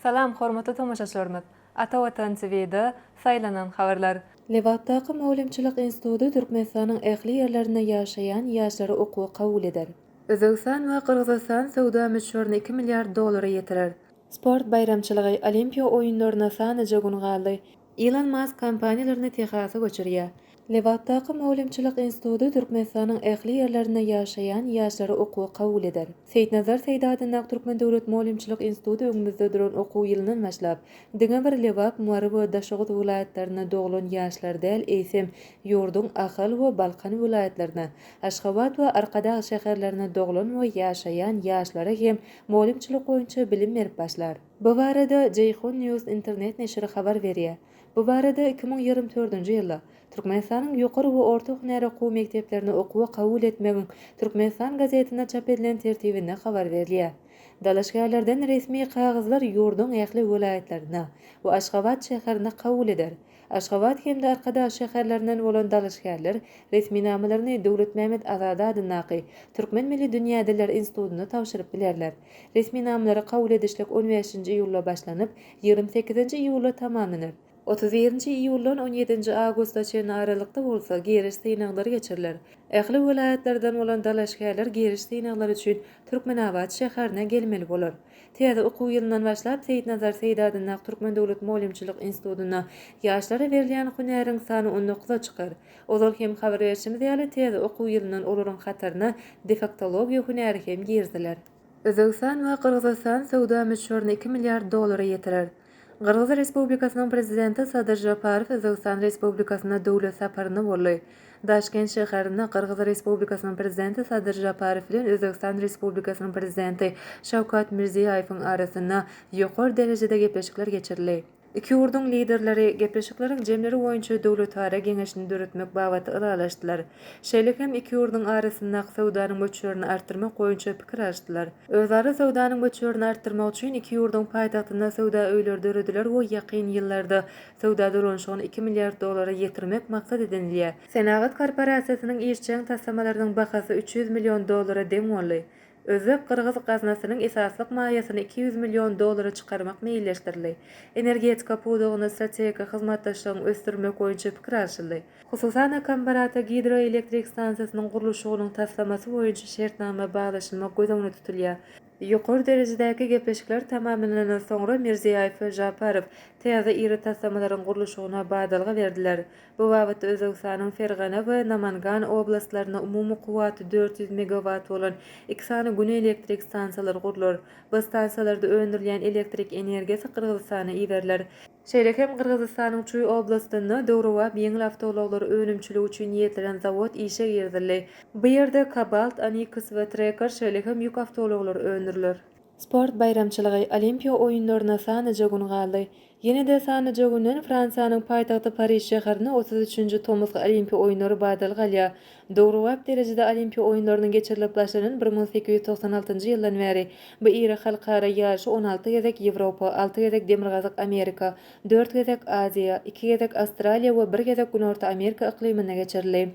Salam hormatly tomaşaçylarymyz! Ata Watan TV-da saýlanan habarlar. Lebapdaky mugallymçylyk instituty Türkmenistanyň ähli ýerlerinde ýaşaýan ýaşlary okuwa kabul eder. Özbegistan we Gyrgyzystan söwda möçberini iki milliard dollara ýetirer. Sport baýramçylygy, Olimpiýa oýunlaryna sanaja gün galdy. Ilon Mask kompaniýalaryny Tehasa göçürýär. Lebapdaky mugallymçylyk instituty Türkmenistanyň ähli ýerlerinde ýaşaýan ýaşlary okuwa kabul eder. Seýitnazar Seýdi adyndaky Türkmen döwlet mugallymçylyk instituty öňümizde duran okuw ýylyndan başlap, diňe bir Lebap, Mary we Daşoguz welaýatlarynda doglan ýaşlary däl, eýsem, ýurduň Ahal we Balkan welaýatlaryna, Aşgabat we Arkadag şäherlerine doglan we ýaşaýan ýaşlara hem mugallymçylyk boýunça bilim berip başlar. Bu barada Jeyhun News internet neşiri habar berýär. Bu barada iki müň ýigrimi dördünji ýylda Türkmenistanyň ýokary we orta hünär okuw mekdeplerine okuwa kabul etmegiň Türkmenistan gazetinde çap edilen tertibinde habar berilýär. Dalaşgärlerden resmi kagyzlar ýurduň ähli welaýatlarynda we Aşgabat şäherinde kabul eder. Aşgabat hem-de Arkadag şäherlerinden bolan dalaşgärler resminamalaryny Döwletmämmet Azady adyndaky Türkmen milli dünýä diller institutyna tabşyryp bilerler. Resminamalary kabul edişlik on bäşinji iýulda başlanyp, ýigrimi sekizinji iýulda tamamlanar. Otuz birinji iýuldan on ýedinji awgusta çenli aralykda bolsa giriş synaglary geçiriler. Ähli welaýatlardan bolan dalaşgärler giriş synaglary üçin Türkmenabat şäherine gelmeli bolar. Täze okuw ýylyndan başlap Seýitnazar Seýdi adyndaky Türkmen döwlet mugallymçylyk institutynda ýaşlara berilýän hünäriň sany on dokuza çykar. Ozal hem habar berşimiz ýaly, täze okuw ýylyndan olaryň hataryna defektologiýa hünäri hem giriziler. Özbegistan we Gyrgyzystan söwda möçberini iki milliard dollara ýetirer. Gyrgyz Respublikasynyň Prezidenti Sadyr Žaparow Özbegistan Respublikasyna döwlet saparyna boldy. Daşkent şäherinde Gyrgyz Respublikasynyň Prezidenti Sadyr Žaparow bilen Özbegistan Respublikasynyň Prezidenti Şawkat Mirziýaýewiň arasynda ýokary derejede gepleşikler geçirildi. Iki ýurduň Liderleri gepleşikleriň jemleri boýunça döwletara geňeşini döretmek babatda ylalaşdylar. Şeýle hem iki ýurduň arasyndaky söwdanyň möçberini artdyrmak boýunça pikir alyşdylar. Özara söwdanyň möçberini artdyrmak üçin iki ýurduň paýtagtynda söwda öýleri dörediler we ýakyn ýyllarda söwda dolanyşygyny iki milliard dollara ýetirmek maksat edinilýär. Senagat korporasiýasynyň işjeň taslamalarynyň bahasy üç ýüz million dollara deň boldy. Özbek-gyrgyz gaznasynyň esaslyk maýasyny iki ýüz million dollara çykarmak meýilleşdirildi. Energetika pudagynda strategik hyzmatdaşlygyň ösdürilmek boýunça pikir alşyldy. Hususan-da, Kambarata gidroelektrik stansiýasynyň gurluşygynyň taslamasy boýunça şertnama baglaşylmak göz öňünde tutulýar. Ýokary derejedäki gepleşikler tamamlanandan soňra Mirziýaýew we Žaparow täze iri taslamalaryň gurluşygyna badalga berdiler. Bu babatda Özbegistanyň Fergana we Namangan oblastlarynda umumy kuwwaty dört ýüz megawat bolan iki sany gün elektrik stansiýalary gurlar. Bu stansiýalarda öndürilýän elektrik energiýasy Gyrgyzystana iberiler. Şeýle hem Gyrgyzystanyň Çuý oblastynda döwrebap ýeňil awtoulaglary önümçiligi üçin niýetlenen zawod işe girizildi. Bu ýerde Kobalt, Anikus we Treker, şeýle hem ýük awtoulaglary öndüriler. Sport baýramçylygy, Olimpiýa oýunlaryna sanaja gün galdy. Ýene-de sanaja günden Fransiýanyň paýtagty Pariž şäherinde otuz üçünji tomusky Olimpiýa oýunlary badal galýar. Döwrebap derejede Olimpiýa oýunlarynyň geçirilip başlanan bir müň sekiz ýüz togsan altynjy ýyldan bäri bu iri halkara ýaryşy on alty gezek Ýewropa, alty gezek Demirgazyk Amerika, dört gezek Aziýa, iki gezek Awstraliýa we bir gezek Günorta Amerika yklymynda geçirildi.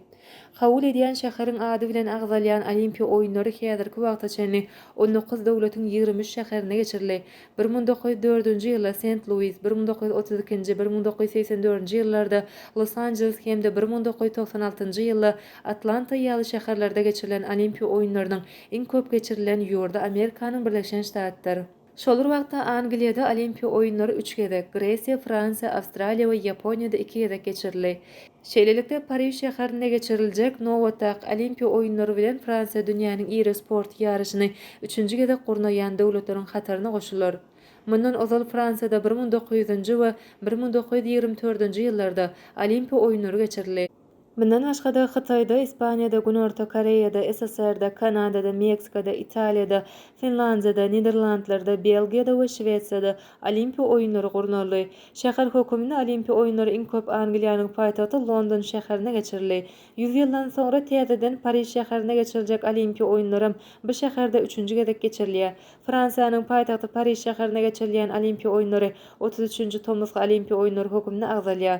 Kabul edýän şäheriň ady bilen agzalýan Olimpiýa oýunlary häzirki wagta çenli on dokuz döwletiň ýigrimi üç şäherinde geçirildi. Bir müň dokuz ýüz dördünji ýylda Sent-Luis, bir müň dokuz ýüz otuz ikinji, bir müň dokuz ýüz segsen dördünji ýyllarda Los-Anjeles hem-de bir müň dokuz ýüz togsan altynjy ýylda Atlanta ýaly şäherlerde geçirilen Olimpiýa oýunlarynyň iň köp geçirilen ýurdy Amerikanyň Birleşen Ştatdyr. Şol bir wagtda Angliýada Olimpiýa oýunlary üç gezek, Gresiýa, Fransiýa, Awstraliýa we Ýaponiýada iki gezek geçirildi. Şeýlelikde, Pariž şäherinde geçiriljek nobatdaky Olimpiýa oýunlary bilen Fransiýa dünýäniň iri sport ýaryşyny üçünji gezek gurnaýan döwletleriň hataryna goşular. Mundan ozal Fransiýada bir müň dokuz ýüz nji we bir müň dokuz ýüz ýigrimi dördünji ýyllarda Olimpiýa oýunlary geçirildi. Mundan başga-da, Hytaýda, Ispaniýada, Günorta Koreýada, SSR-de, Kanadada, Meksikada, Italiýada, Finlandiýada, Niderlandlarda, Belgiýada we Şwesiýada Olimpiýa oýunlary gurnaldy. Şäher höküminde Olimpiýa oýunlary iň köp Angliýanyň paýtagty London şäherinde geçirildi. Ýüz ýyldan soňra täzeden Pariž şäherinde geçiriljek Olimpiýa oýunlaram bu şäherde üçünji gezek geçirilýär. Fransiýanyň paýtagty Pariž şäherinde geçirilýän Olimpiýa oýunlary otuz üçünji tomusky Olimpiýa oýunlary höküminde agzalýar.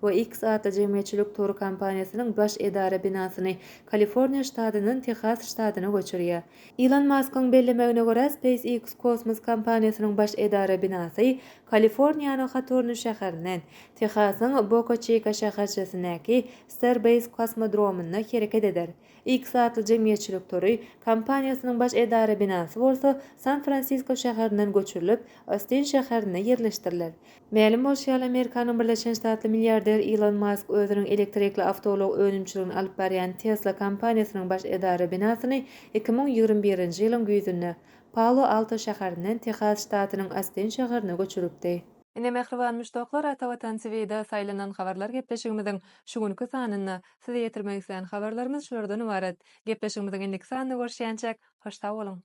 we X atly jemgyýetçilik tory kompaniýasynyň baş edara binasyny Kaliforniýa ştatyndan Tehas ştatyna göçürýär. Ilon Maskyň bellemegine görä, SpaceX kosmos kompaniýasynyň baş edara binasy Kaliforniýanyň Hatorni şäherinden, Tehasyň Boka-Çika şäherçesindäki Starbase kosmodromynda hereket eder. X atly jemgyýetçilik tory kompaniýasynyň baş edara binasy bolsa San-Fransisko şäherinden göçürilip, Ostin şäherinde ýerleşdiriler. Mälim bolşy ýaly, Amerikanyň Birleşen Ştatly milliarder Ilon Mask özüniň elektrikli awtoulag önümçiligini alyp barýan Tesla kompaniýasynyň baş edara binasyny iki müň ýigrimi birinji ýylyň güýzünde Palo-Alto şäherinden Tehas ştatynyň Ostin şäherine göçüripdi. Ine, mähriban muşdaklar, Atavatan TV-de saýlanan habarlar gepleşigimiziň şu günki sanynda Size ýetirmek isleýän habarlarymyz şulardan ybarat. Gepleşigimiziň indiki sanynda görüşýänçäk, hoş sag boluň!